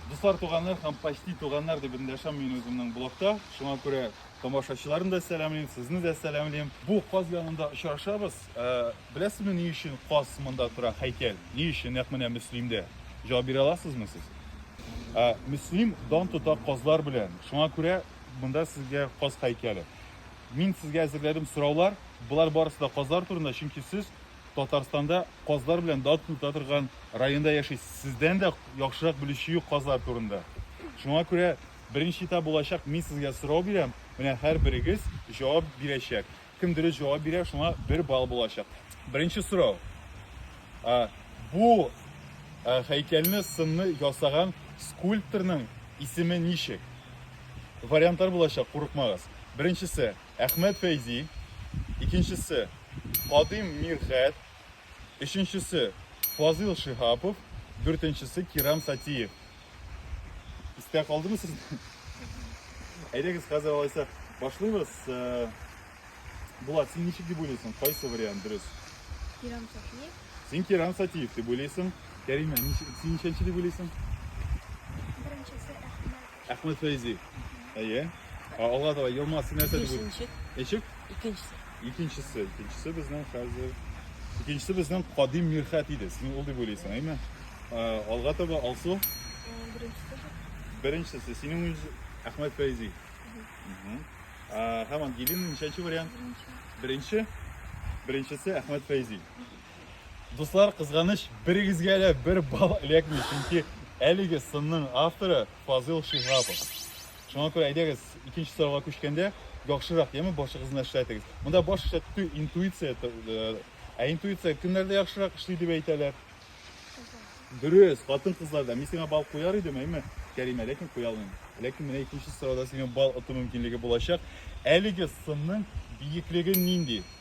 Дуслар, туганнар һәм почти туганнар дип эндәшәм мин үземнең блогта. Шуңа күрә тамашачыларны да сәламлим, сезне дә сәламлим. Бу каз янында очрашабыз. Ә, беләсезме ни өчен каз монда тора, һәйкәл? Ни өчен нәкъ менә Мөслимдә? Җавап бирә аласызмы сез? Ә, Мөслим дан тота казлар белән. Шуңа күрә монда сезгә каз һәйкәле. Мин сезгә әзерләдем сораулар. Болар барысы да казлар турында, чөнки сез Татарстанда казлар белән дан тота торган районда яшисез. Сездән дә яхшырак белүче юк казлар турында. Шуңа күрә беренче этап булачак, мин сезгә сорау бирәм, менә һәрберегез җавап бирәчәк. Кем дөрес җавап бирә, шуңа бер балл булачак. Беренче сорау. Ә, бу ә, һәйкәлне сынны ясаган скульпторның исеме ничек? Вариантлар булачак, курыкмагыз. Беренчесе Әхмәт Фәйзи, икенчесе, Кадыйм Мирхәт, өченчесе, Фазыйл Шиһапов, дүртенчесе, Кирам Сатиев. Истә калдымы сезгә? Әйдәгез, хәзер алайса башлыйбыз. Э, Булат, син ничек дип уйлыйсың? Кайсы вариант дөрес? Кирам Сатиев. Син Кирам Сатиев дип уйлыйсың. Кәримә, син ничәнче дип уйлыйсың? Әхмәт Фәйзи. Әйе. А, Алга таба елма син нәрсә дип Бишенче, Ничек? икенчесе. Икенчесе, икенчесе безнең хәзер. Икенчесе безнең Кадим Мирхәт иде. Син ул дип уйлыйсың, әйме? А, Алга таба Алсу. Э, Беренчесе же. Беренчесе синең үз Әхмәт Фәйзи. Мгм. А, Һәм Ангелина ничәнче вариант? Беренче. Беренче. Беренчесе Әхмәт Фәйзи. Дуслар, кызганыч, берегезгә дә бер бал эләкми, чөнки әлеге сынның авторы Фазыл Шиһапов. Шуңа күрә әйдәгез, икенче сорауга күчкәндә, яхшырак яме башыгызны эшләтегез. Монда баш эшләтү түгел, интуиция. т- э, Ә интуиция кемнәрдә яхшырак эшли дип әйтәләр? Дөрес, хатын-кызларда. Мин сиңа бал куяр идем, әйме, Кәримә, ләкин куя алмыйм. Ләкин менә икенче сорауда сиңа бал оту мөмкинлеге булачак. Әлеге сынның биеклеге нинди?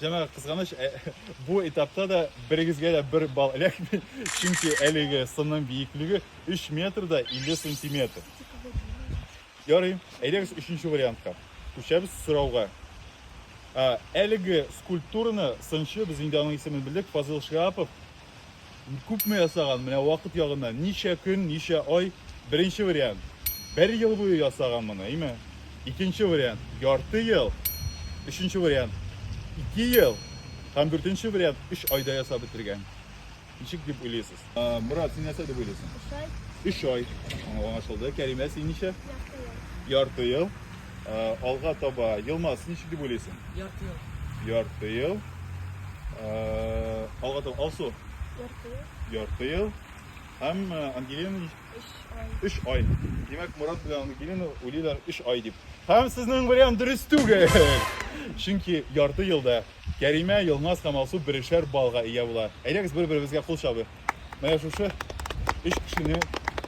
Җәмәгать, кызганыч, э, бу этапта да берегезгә дә бер балл эләкми, чөнки әлеге сынның биеклеге 3 метр да 50 сантиметр. Ярый, әйдәгез өченче вариантка. Күчәбез сорауга. Ә, Әлеге скульптураны сынчы, без инде аның исемен белдек, Фазыл Шиапов Күпме ясаган, менә вакыт ягыннан, ничә көн, ничә ай. Беренче вариант, бер ел буе ясаган моны, әйме? Икенче вариант, ярты ел. Өченче вариант, ике ел. Һәм дүртенче вариант, өч айда ясап бетергән. Ничек дип уйлыйсыз? Мурат, син нәрсә дип уйлыйсың? Өч ай. Өч ай. Аңлашылды. Кәримә, син ничә? Ярты ел. Ярты ел. Ә, алга таба Елмаз ничек дип уйлыйсың? Ярты ел. Ярты ел. Ә, алга таба Алсу Ярты ел. ярты ел һәм ә, Ангелина нич- Өч ай. Өч ай. Димәк, Мурат белән Ангелина уйлыйлар өч ай дип. Һәм сезнең вариант дөрес түгел. Чөнки ярты елда Кәримә, Елмаз һәм Алсу берешәр баллга ия була. Әйдәгез бер-беребезгә кул чабыйк. Менә шушы өч кешене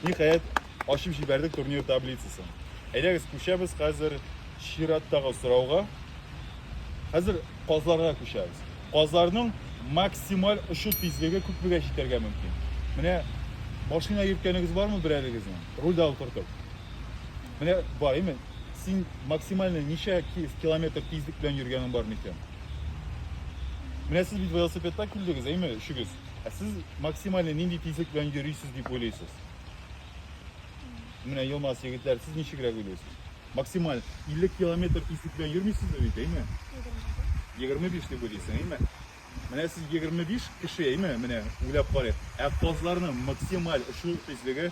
ниһаять ачып җибәрдек турнир таблицасын. Әйдәгез күчәбез хәзер чираттагы сорауга. Хәзер казларга күчәбез. Казларның максималь очу тизлеге күпмегә җитәргә мөмкин? Менә машина йөрткәнегез бармы берәрегезнең? Рульдә утыртып. Менә бар, именно син максимально ничә километр тизлек белән йөргәнең бар микән? Менә сез бит велосипедта килдегез, әйме, өчегез? Ә сез максимально нинди тизлек белән йөрисез дип уйлыйсыз? Менә Елмаз егетләр, сез ничегрәк уйлыйсыз? Максималь 50 километр тизлек белән йөрмисез бит, әйме? 25 дип уйлыйсың, әйме? Менә сез 25 кеше, әйме? Менә уйлап карыйк. Ә казларның максималь шул тизлеге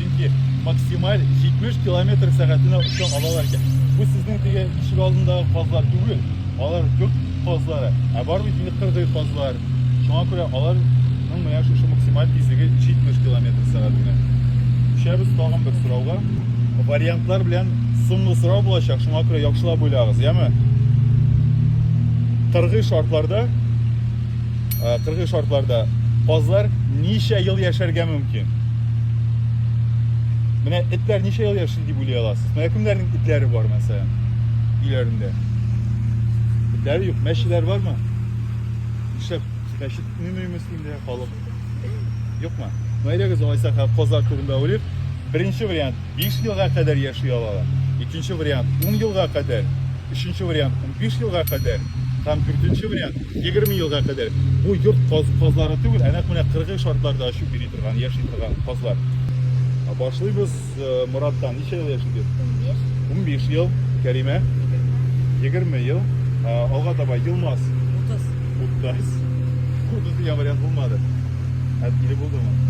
Чөнки максималь 70 километр сәгатенә оча алалар икән. Бу сезнең теге ишек алдындагы казлар түгел. Алар гөк казлары. Ә бар бит инде кыргый казлар. Шуңа күрә аларның менә шушы максималь тизлеге 70 километр сәгатенә. Күчәбез тагын бер сорауга. Вариантлар белән соңгы сорау булачак, шуңа күрә яхшылап уйлагыз, яме? Кыргый шартларда э, кыргый шартларда казлар ничә ел яшәргә мөмкин? Менә этләр ничә ел яши дип уйлый аласыз? Менә кемнәрнең этләре бар, мәсәлән, өйләрендә? Этләре юк, мәчеләр бармы? Нишләп мәчет төнлеме мөслимдә халык? Юкмы? Мәйләгез алайса казлар турында уйлыйк. Беренче вариант биш елга кадәр яши алалар, икенче вариант, ун елга кадәр, өченче вариант, унбиш елга кадәр һәм дүртенче вариант, егерме елга кадәр. Бу йорт каз, казлары түгел, ә нәкъ менә кыргый шартларда очып йөри торган, яши торган казлар. Башлыйбыз э, Мураттан. Ничә ел яшидез? Унбиш. Унбиш ел. Кәримә? Егерме ел. Э, алга таба Елмаз. Утыз. Утыз. Утыз дигән вариант булмады. Әтиле булдымы?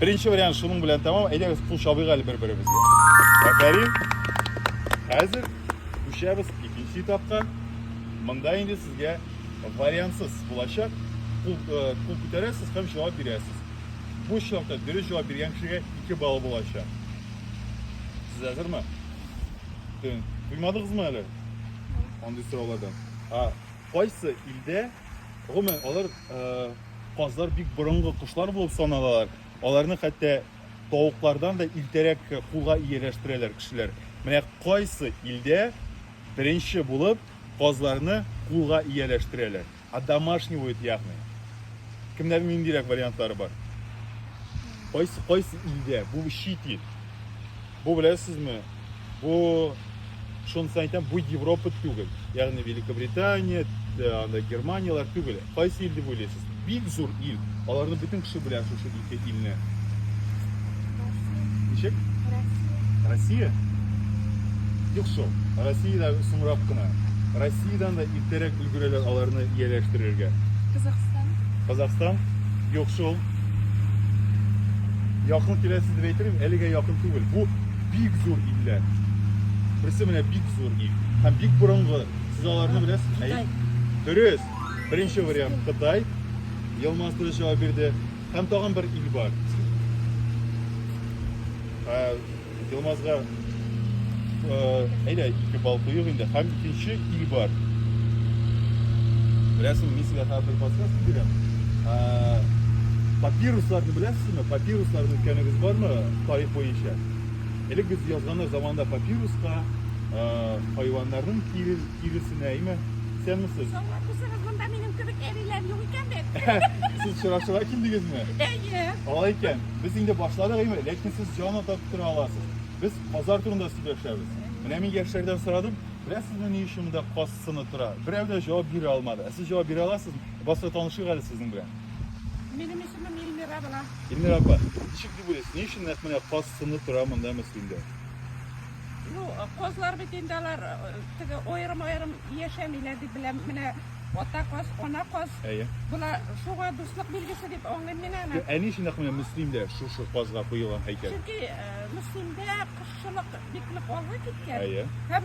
Беренче вариант шуның белән тәмам. Әйдәгез, кул чабыйк әле бер-беребезгә. Афәрин. Хәзер күчәбез икенче этапка. Монда инде сезгә вариантсыз булачак. Кул, э, кул күтәрәсез һәм җавап бирәсез. Бу очракта дөрес җавап биргән кешегә 2 балл булачак. Сез әзерме? Төн. Туймадыгызмы әле? Андый сораулардан. А Кайсы илдә, гомумән, алар казлар бик борынгы кошлар булып саналалар. Аларны хәтта тавыклардан да илтәрәк кулга ияләштерәләр кешеләр. Менә кайсы илдә беренче булып казларны кулга ияләштерәләр. А домашний будет ягны. Кемнәрнең ниндирәк вариантлары бар? Кайсы кайсы илдә? Бу чит ил. Бу беләсезме? Бу шунысы әйтәм, бу Европа түгел. Ягъни Великобритания, э, анда Германияләр түгел. Кайсы ил дип уйлыйсыз? Бик зур ил. Аларны бөтен кеше белә шушы ике илне. Ничек? Россия. Россия? Юк шул. Россиядә соңрак кына. Россиядән дә иртәрәк өлгерәләр аларны ияләштерергә. Казахстан. Казахстан? Юк шул. Якын киләсе дип әйтелми, әлегә якын түгел. Бу бик зур илләр. Берсе менә бик зур ил. Һәм бик борынгы. Сез аларны беләсез? Кытай. Дөрес. Беренче вариант Кытай. Елмаз дөрес җавап бирде. Һәм тагын бер ил бар. Елмазга әйдә ике бал куйып инде һәм икенче ил бар. Беләсең, мин сезгә хәзер подсказка бирәм. Папирусларны беләсезме? Папирусларны үткәнегез бармы тарих буенча? Элек без язганнар заманында папируска хайваннарның тирен Тиресенә әйме? Исән мисез? Соңга күрсәгез, монда минем кебек әбиләр юк икән бит. Сез чырашыга килдегезме? Әйе. Алай икән, без инде башладык әйме, ләкин сез җан атап тора аласыз. Без базар турында сөйләшәбез. Менә мин яшьләрдән сорадым, беләсезме ни өчен монда каз сыны тора? Берәү дә җавап бирә алмады. Ә сез җавап бирә аласызмы? Басра танышыйк әле сезнең белән. Минем исемем Эльмира була. Эльмира апа, ничек дип уйлыйсыз, ни өчен нәкъ менә каз сыны тора монда Мәскәүдә? Ну, козлар бит инде алар теге аерым-аерым яшәмиләр дип беләм. Менә ата коз, ана коз. Әйе. Була шуга дуслык билгесе дип аңлыйм мин аны. Әни өчен нәкъ менә Мөслимдә шушы козга куелган һәйкәл. Чөнки Мөслимдә кошчылык бик нык алга киткән. Әйе. Һәм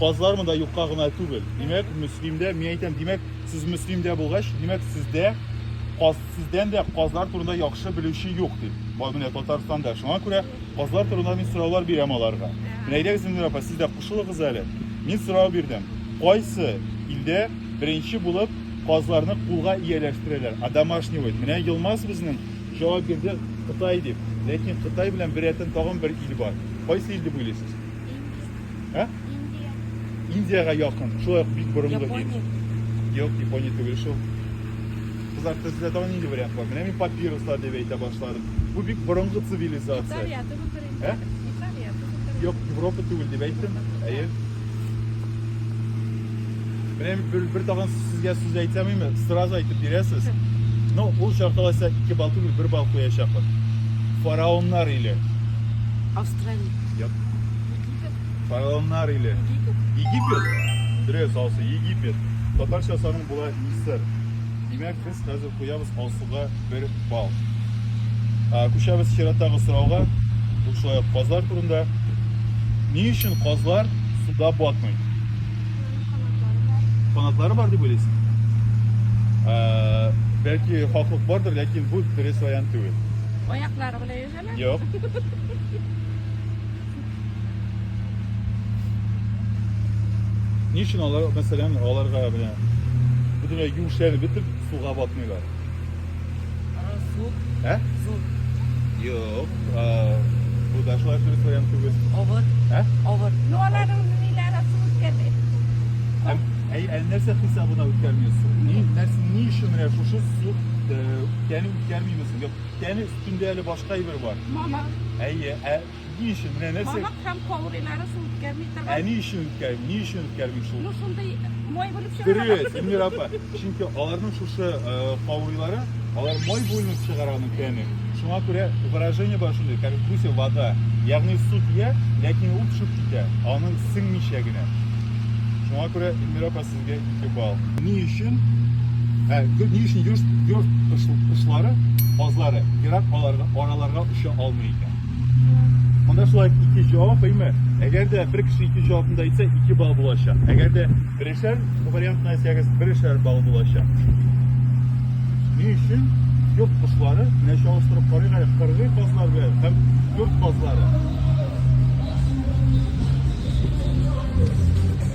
Казлар монда юкка гына түгел. Димәк, Мөслимдә, мин әйтәм, димәк, сез Мөслимдә булгач, димәк, сездә каз сездән дә казлар турында яхшы белүче юк дип. Бай менә Татарстанда. Шуңа күрә казлар турында мин сораулар бирәм аларга. Менә әйдәгез инде, апа, сез дә кушылыгыз әле. Мин сорау бирдем. Кайсы илдә беренче булып казларны кулга ияләштерәләр? А домашний вот. Менә Елмаз безнең җавап бирде Кытай дип. Ләкин Кытай белән бер рәтен тагын бер ил бар. Кайсы ил дип уйлыйсыз? Ә? Индия. Индиягә якын. Шулай ук бик борынгы ил. Япония. Юк, Япония түгел шул. Кызлар, сездә тагын нинди вариант бар? Менә мин папирослар дип әйтә башладым. Бу бик борынгы цивилизация. Италия түгелдер инде. Ә? Италия түгелдер. Юк, Европа түгел дип әйттем. Әйе. Менә бер, бер тагын сезгә сүз әйтәмиме? Сразу әйтеп бирәсез. Ну, ул чакта алайса 2 балл түгел, 1 балл куячакмын. Фараоннар иле. Австралия. Египет. Фараоннар иле. Египет. Египет. Дөрес, Алсу, Египет. Татарча саның була Мисыр. Димәк, без хәзер куябыз Алсуга бер бал. А, Күчәбез чираттагы сорауга. Бу шулай ук казлар турында. Ни өчен казлар суда батмый? Канатлары бар дип уйлыйсың? Ә, Бәлки хаклык бардыр, ләкин бу дөрес вариант түгел. Аяклары белән Юк. Ни өчен алар, мәсәлән, аларга менә бөтенләй юешләрен бетеп суга батмыйлар? Суд. Ә? Суд. Юк. Бу да шулай дөрес вариант түгел. Авыр. Ә? Авыр. Ну, аларның ниләре суд үткәрде? Әй, ә нәрсә хисабына үткәрмисез? Ни, нәрсә, ни өчен менә шушы суд, яни үткәрмимез? Тәне өстендә әле башка әйбер бар. Мамык. Әйе, ә ни өчен? Менә нәрсә? Мамык һәм каурыйлары су үткәрми торган. Ә ни өчен үткәрми? Ни өчен үткәрми шул? Ну шундый май булып чыгара. Дөрес, Эльмира апа. Чөнки аларның шушы э, каурыйлары, алар май бүленеп чыгара аның тәне. Шуңа күрә выражение бар шундый, как в гусе вода. Ягъни су тия, ләкин ул төшеп китә, аның сеңмичә генә. Шуңа күрә Эльмира апа сез Кебал. Ни өчен? Ә, ни өчен йорт, йорт кошлары, базлары, ерак аларга, араларга оча алмый икән? Монда шулай ике җавап, әйме? Әгәр дә бер кеше ике җавабын да әйтсә, ике балл булачак. Әгәр дә берешәр вариантны әйтсәгез, берешәр балл булачак. Ни өчен йорт кошлары, менә чалыштырып карыйк әле, кыргый базлар белән һәм йорт базлары.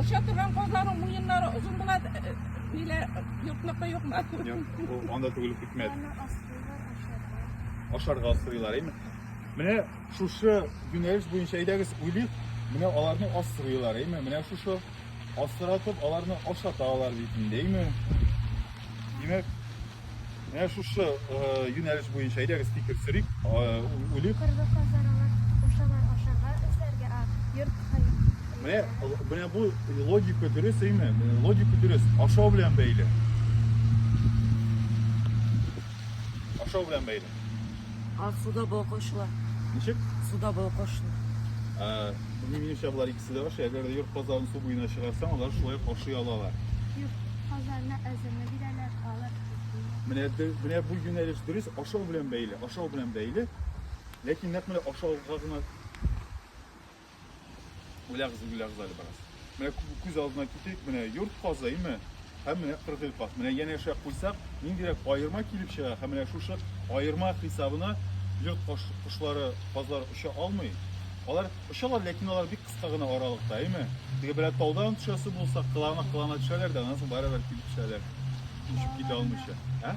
Оча торган казларның муеннары озын була, нилә юкмыкы юкмы? Юк, анда түгел хикмәт. Ашарга асрыйлар, әйме? Менә шушы юнәлеш буенча әйдәгез уйлыйк, менә аларны асрыйлар, әйме? Менә шушы асратып аларны ашаталар бит инде, әйме? Димәк, Менә шушы юнәлеш буенча әйдәгез фикер сөрик, үлик. Кыргы казаралар, ушалар ашарга эшләргә а, йорт хәл. Менә, менә бу логика дөрес, әйме? Логика дөрес, ашау белән бәйле. Ашау белән бәйле. Ах, суда балкошлар. Ничек? Суда балкошлар. Ә, минемчә, болар Сез ашый, әгәр дә йорт казларын су буена чыгарсаң, алар шулай ук ашый алалар. Йорт казларына әзерне бирәләр, алар Менә, менә бу юнәлеш дөрес, ашау белән бәйле, ашау белән бәйле. Ләкин нәкъ менә ашауга гына үләгез, үләгез әле бераз. Менә күз алдына китерик, менә йорт казлы, име? Һәм менә кыргый кат. Менә янәшә куйсак, ниндирәк аерма килеп чыга. Һәм менә шушы аерма хисабына йорт кошлары, казлар оча алмый. Алар очалар, ләкин алар бик кыска гына аралыкта, әйме? Теге белән таудан төшәсе булса, кылана кылана төшәләр дә, аннан соң барыбер килеп төшәләр. Очып китә алмыйча. Ә?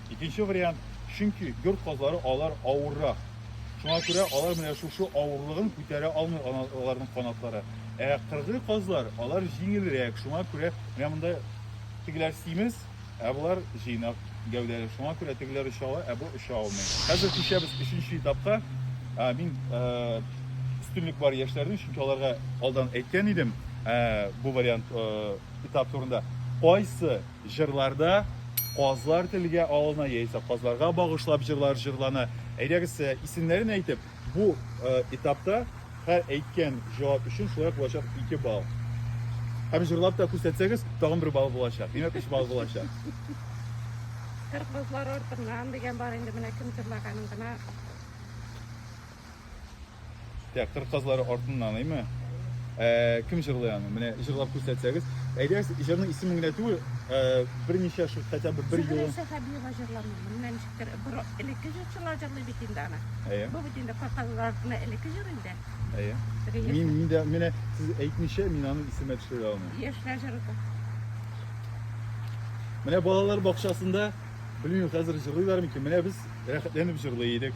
Икенче вариант, чөнки йорт казлары алар авыррак. Шуңа күрә алар менә шушы авырлыгын күтәрә алмый аларның канатлары. Ә кыргый казлар алар җиңелрәк, шуңа күрә менә монда тегеләр симез, ә болар җыйнак гәүдәле. Шуңа күрә тегеләр оча ала, ә бу оча алмый. Хәзер күчәбез өченче этапка. Мин өстенлек бар яшьләрнең, чөнки аларга алдан әйткән идем бу вариант этап турында. Кайсы Җырларда казлар телгә алына яисә казларга багышлап җырлар җырлана. Әйдәгез, исемнәрен әйтеп, бу этапта һәр әйткән җавап өчен шулай ук булачак ике балл. Һәм җырлап та күрсәтсәгез, тагын бер балл булачак. Димәк, өч балл булачак. Кыргызлар артыннан дигән бар инде, менә кем җырлаганын гына Так, кыр казлары артыннан име? Ә, кем җырлый аны? Менә җырлап күрсәтсәгез. Әйдәгез, җырның исемен генә түгел, ә, берничә шул хотя бы бер юлы. Зөһрә Сәхәбиева җырламый. Менә ничектер бер элекке җырчылар җырлый бит инде аны. Әйе. Бу бит инде кыр казлары артына элекке җыр инде. Әйе. Реестр. Мин мин дә менә сез әйтмичә мин аның исемен төшерә алмыйм. Яшьләр җыры. Менә балалар бакчасында, белмим, хәзер җырлыйлар микән? Менә без Рәхәтләнеп җырлый идек.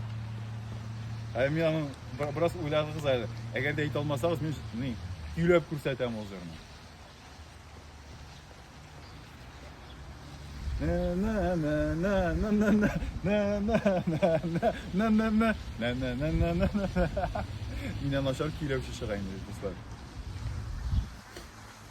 Ә мин аны бераз уйлагыз әле. Әгәр дә әйтә алмасагыз, мин ни, көйләп күрсәтәм ул җырны. Миннән начар көйләүче чыга инде, дуслар.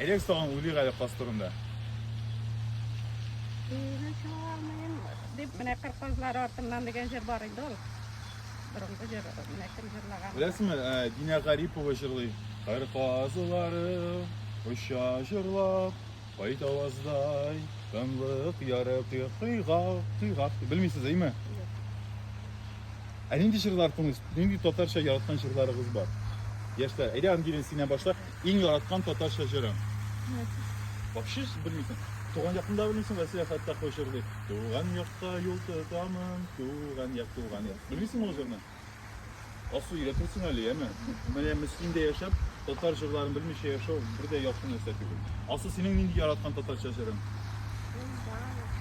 Элек тагын уйлыйк әле каз турында. Өйгә чыга алмыйм дип, менә кыр казлары артыннан дигән җыр бар иде ул. Борынгы җыр, менә кем җырлаган. Беләсезме, ә, Динә Гарипова җырлый. Кыр казлары оча җырлап, кайт аваздай, тынлык ярып йокыга, йокыга. Белмисез, әйме? Ә нинди җырлар тыңлыйсыз? Нинди татарча яраткан җырларыгыз бар? Яшьләр, әйдә, Ангелин, синнән башлыйк. Иң яраткан татарча җырың? Вообще белмисең. Туган якны да белмисең, ә сәяхәттә кой җырлый. Туган якка юл тотамын, туган як, туган як. Белмисең ул җырны? Асу өйрәтерсең әле, яме? Менә Мөслимдә яшәп, татар җырларын белмичә яшәү бер дә яхшы нәрсә түгел. Асу, синең нинди яраткан татарча җырың?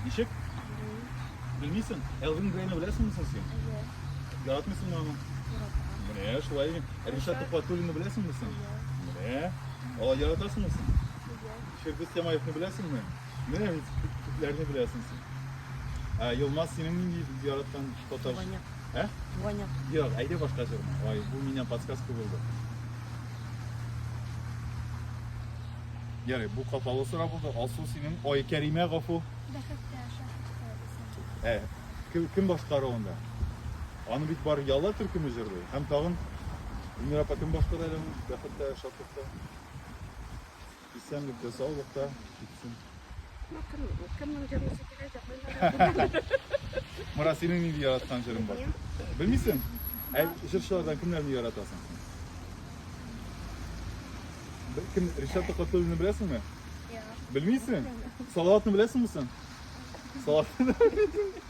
Ничек? Белмисең? Элвин Грейны беләсеңме соң син? Яратмыйсыңмы аны? Менә шулай. Ришат Тухватуллинны беләсеңме син? Менә. Алай яратасыңмы син? Фирдүс Тямаевны беләсеңме? Менә бит күпләрне беләсең син. Ә Елмаз синең нинди яраткан татар? Туганяк. Ә? Туганяк. Юк, әйдә башка җырны. Ай, бу миннән подсказка булды. Ярый, бу капалы сорау булды. Алсу синең Ай Кәримә гафу. Бәхеткә шәхескә. Ә, кем, кем башкаруында? Аны бит бары Ялла төркеме җырлый һәм тагын Венера апа кем башкара әле аны? Бәхеттә, шатлыкта, исәнлектә, саулыкта китсен. Ну, кем, кемнең җырлыйсы килә, җырлыйлар. Мара, синең нинди яраткан җырың бар? Белмисең? Ә җырчылардан кемнәрне яратасың син? Б- Кем, Ришат Токатуллинны беләсеңме? Белмисең? Салаватны беләсеңме син? Салаватны да белмисең.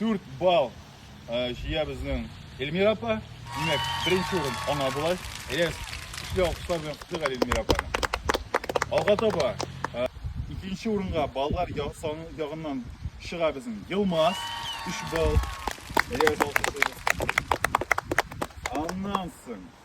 4 балл җыя безнең Эльмира апа. Димәк, беренче урын аңа була. Әйдәгез, көчле алкышлар белән котлыйк әле Эльмира апаны. Алга таба икенче урынга баллар саны ягыннан чыга безнең Елмаз 3 балл. Әйдәгез, алкышлыйбыз. Аннан соң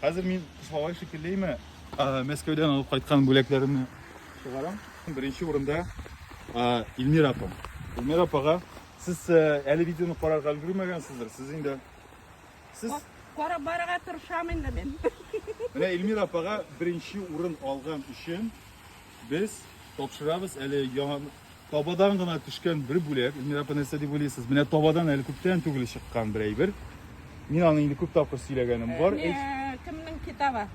Хәзер мин Кышлавай шикеллеме Мәскәүдән алып кайткан бүләкләремне чыгарам. Беренче урында Илмира апа. Илмира апага сез әле видеоны карарга өлгермәгәнсездер. Сез инде сез карап барырга тырышам инде мин. Менә Илмира апага беренче урын алган өчен Без тапшырабыз әле яңа табадан гына төшкән бер бүләк. Эльмира апа нәрсә дип уйлыйсыз? Менә табадан әле күптән түгел чыккан бер әйбер. Мин аны инде күп тапкыр сөйләгәнем бар. Әйт. Менә кемнең китабы?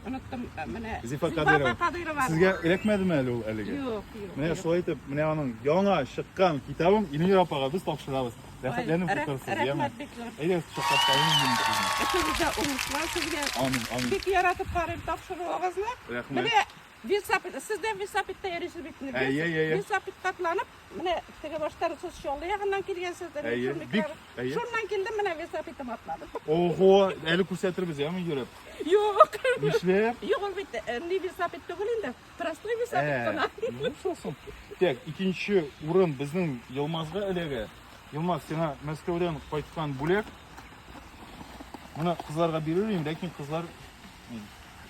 Оныттым э, менә. Зифа Кадыйрова. Кадыйрова. Сезгә эләкмәдеме әле ул әлеге? Юк, юк. Менә шулай итеп, менә аның яңа чыккан китабын Эльмира апага без тапшырабыз. Рәхәтләнеп Рәх- утырырсыз, яме. Рәхмәт бик зур. Әйдә, чаклап калыйм мин сезне. Эшегездә уңышлар сезгә. Амин, амин. Бик яратып карыйм тапшыруыгызны. Рәхмәт. Менә весапит, сез дә весапитта йөрисез бит. инде. Әйе, әйе, әйе. Весапит катланып, менә теге баштан сез Чаллы ягыннан килгәнсездер. Әйе, шул бик, микро- әйе. Шуннан килдем, менә весапитым атлады. Ого, әле күрсәтербез, яме йөреп. Юк, Нишләп? юк, ул бит э, ни весапит түгел инде. Простой bir сәбәп кына. Булсасын. Так, икенче урын безнең Елмазга эләгә. Елмаз, сиңа Мәскәүдән кайткан бүләк. Моны кызларга бирер идем, ләкин кызлар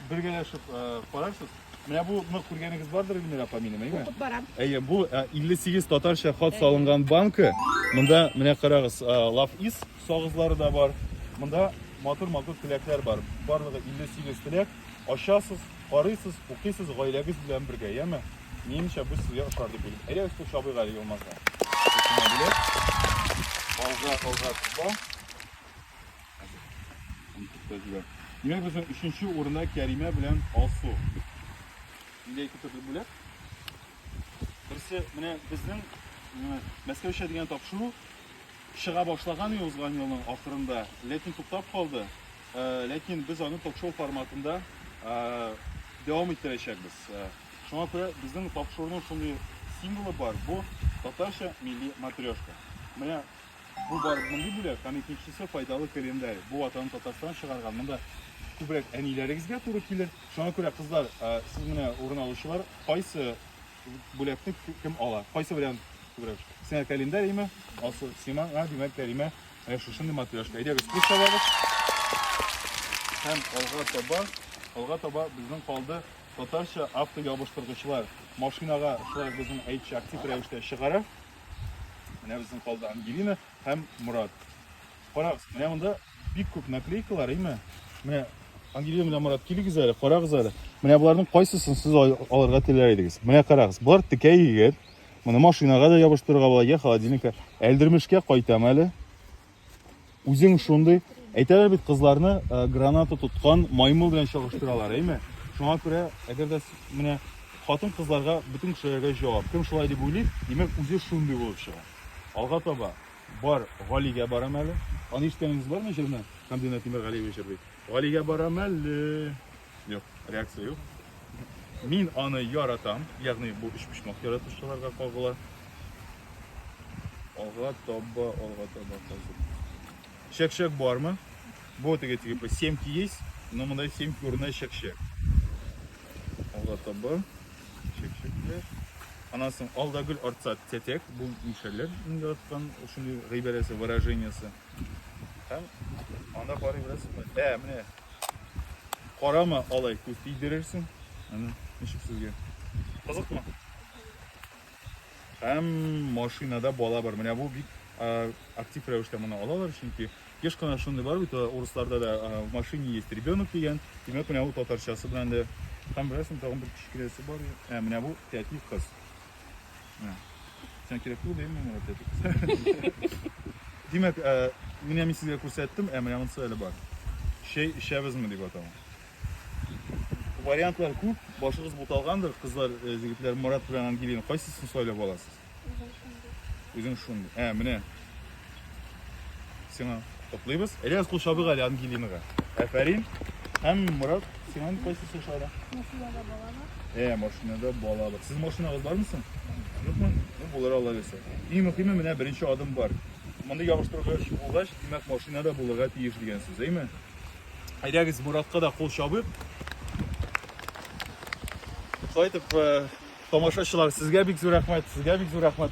бергәләшеп карарсыз. Менә бу ны күргәнегез бардыр Эльмира апа минем, әйме? Укып барам. Әйе, бу 58 татарча хат салынган банка. Монда менә карагыз, лав ис сагызлары да бар. Монда матур-матур теләкләр бар. Барлыгы 58 теләк. Ачасыз, Карыйсыз, укыйсыз гаиләгез белән бергә, яме? Минемчә, бу сезгә ошар дип уйлыйм. Әйдәгез кул чабыйк әле Елмазга. Алга, алга, алга. Димәк, безнең өченче урында Кәримә белән Алсу. Нидә ике төрле бүләк? Берсе, менә безнең Мәскәүчә дигән тапшыру чыга башлаган иде узган елның ахырында, ләкин туктап калды. Ә, ләкин без аны ток-шоу форматында ә, дәвам иттерәчәкбез. Ә, шуңа күрә безнең ток-шоуның шундый символы бар, бу татарча милли матрешка. Менә бу бар мондый бүләк, һәм икенчесе файдалы календарь. Бу ватан Татарстан чыгарган. Монда күбрәк әниләрегезгә туры килер. Шуңа күрә, кызлар, ә, сез менә урын алучылар, кайсы Бүләкне кем ала? Кайсы вариант күбрәк? Сиңа календарийме? Алсу, сиңа, димәк, Кәримә, ә шушындый матрешка. Әйдәгез, күз салабыз. Һәм алга таба, алга таба безнең калды татарча автоябыштыргычлар. Машинага шулай безнең әйтче актив рәвештә чыгара. Менә безнең калды Ангелина һәм Мурат. Карагыз, менә монда бик күп наклейкалар, әйме? Менә Ангелина белән Марат, килегез әле, карагыз әле. Менә боларның кайсысын сез алырга теләр идегез? Менә карагыз, болар текә егет. Моны машинага да ябыштырырга була, я холодильникка. Әлдермешкә кайтам әле. Үзең шундый. Әйтәләр бит кызларны э, граната тоткан маймыл белән чагыштыралар, әйме? Шуңа күрә, әгәр дә менә хатын кызларга бөтен кешеләргә җавап. Кем шулай дип уйлый, димәк, үзе шундый булып чыга. Алга таба Бар, Галигә барам әле. Аны ишеткәнегез бармы җырны? Хамдина Тимергалиева җырлый. Галигә барам әле. Юк, реакция юк. Мин аны яратам, ягъни бу өчпочмак яратучыларга кагыла. Алга таба, алга таба калды. Чәкчәк бармы? Бу теге типа семки есть, но монда семки урынына чәкчәк. Алда табы, чәкчәкле. Анан соң алда гөл артса тәтәк, бу мишәлләр иң яраткан шундый гыйбарәсе, выражениесе. Һәм анда карый беләсезме? Ә, менә карама алай күз тидерерсең. Аны ничек сезгә? Кызыкмы? Һәм машинада бала бар. Менә бу бик актив рәвештә моны алалар, чөнки еш кына шундый бар бит, урысларда да в машине есть ребенок дигән. Димәк, менә бу татарчасы белән дә һәм берәрсен тагын бер кечкенәсе бар. Ә менә бу тәти кыз. Менә. Сән кирәк түгел димме менә тәти кыз. Димәк, менә мин сезгә күрсәттем, ә менә монысы әле бар. Чәй эчәбезме дип аталган. Вариантлар күп, башыгыз буталгандыр, кызлар, э, егетләр Марат белән Ангелина. Кайсысын сайлап аласыз? Үзең шундый. Ә, менә. Сиңа котлыйбыз. Эләс кул чабык әле Ангелинага. Әфәрин. Һәм Марат, сиңа кайсысы ошады? Машинада бала бар. Ә, машинада бала бар. Сез машинагыз бармы соң? Юкмы? Ну, булыр алла берсе. Иң мөхиме менә беренче адым бар. Мондый ябыштыргыч булгач, димәк, машинада булырга тиеш дигән сүз, әйме? Әйдәгез, Моратка да кул чабыйк. Шулай итеп, э, тамашачылар, сезгә бик зур рәхмәт, сезгә бик зур рәхмәт.